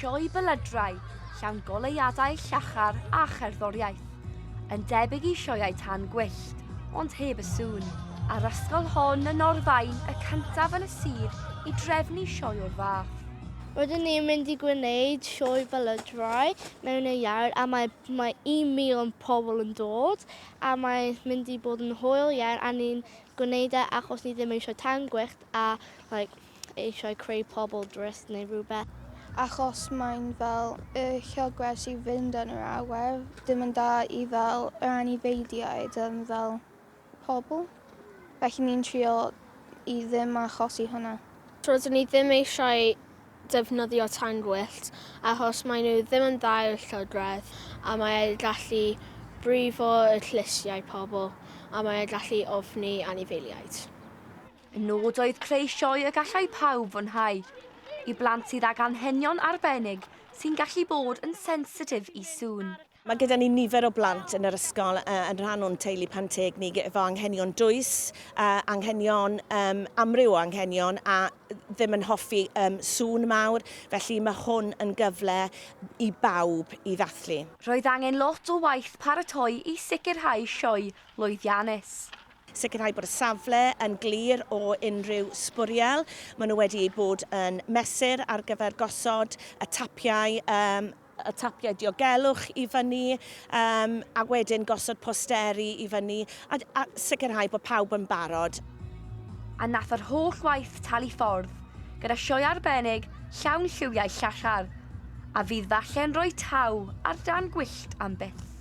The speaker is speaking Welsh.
Sioe belydrau, llawn goleuadau llachar a cherddoriaeth. Yn debyg i sioeau tan gwyllt, ond heb y sŵn. A'r ysgol hon yn Norfaen y cyntaf yn y sir i drefnu sioe o'r fath. Rydyn ni'n mynd i gwneud sioe belydrau mewn y iawn a mae, mae 1,000 pobl yn dod a mae'n mynd i bod yn hwyl iawn a ni'n gwneud e achos ni ddim eisiau tan gwyllt a like, eisiau creu pobl drist neu rhywbeth. Achos mae'n fel y llogwers i fynd yn yr awyr, dim yn da i fel yr anifeiddiaid yn fel pobl. Felly ni'n trio i ddim achosi hwnna. Rydyn ni ddim eisiau defnyddio tân gwyllt achos maen nhw ddim yn dda i'r llygredd a mae e'n gallu brifo y llysiau pobl a mae e'n gallu ofni anifeiliaid. Y nod oedd creu sioe y gallai pawb fwynhau, i blant sydd ag anghenion arbennig sy'n gallu bod yn sensitif i sŵn. Mae gyda ni nifer o blant yn yr ysgol yn rhan o'n teulu Pan-teg ni efo anghenion dwys, anghenion, um, amryw o anghenion a ddim yn hoffi um, sŵn mawr, felly mae hwn yn gyfle i bawb i ddathlu. Roedd angen lot o waith paratoi i sicrhau sioe lwyddiannus. Sicrhau bod y safle yn glir o unrhyw sbwriel. Maen nhw wedi eu bod yn mesur ar gyfer gosod y tapiau um, y tapiau diogelwch i fyny um, a wedyn gosod posteri i fyny a, a sicrhau bod pawb yn barod. A nath yr holl waith talu ffordd, gyda sioe arbennig llawn lliwiau llachar, a fydd falle'n rhoi taw ar dân gwyllt am byth.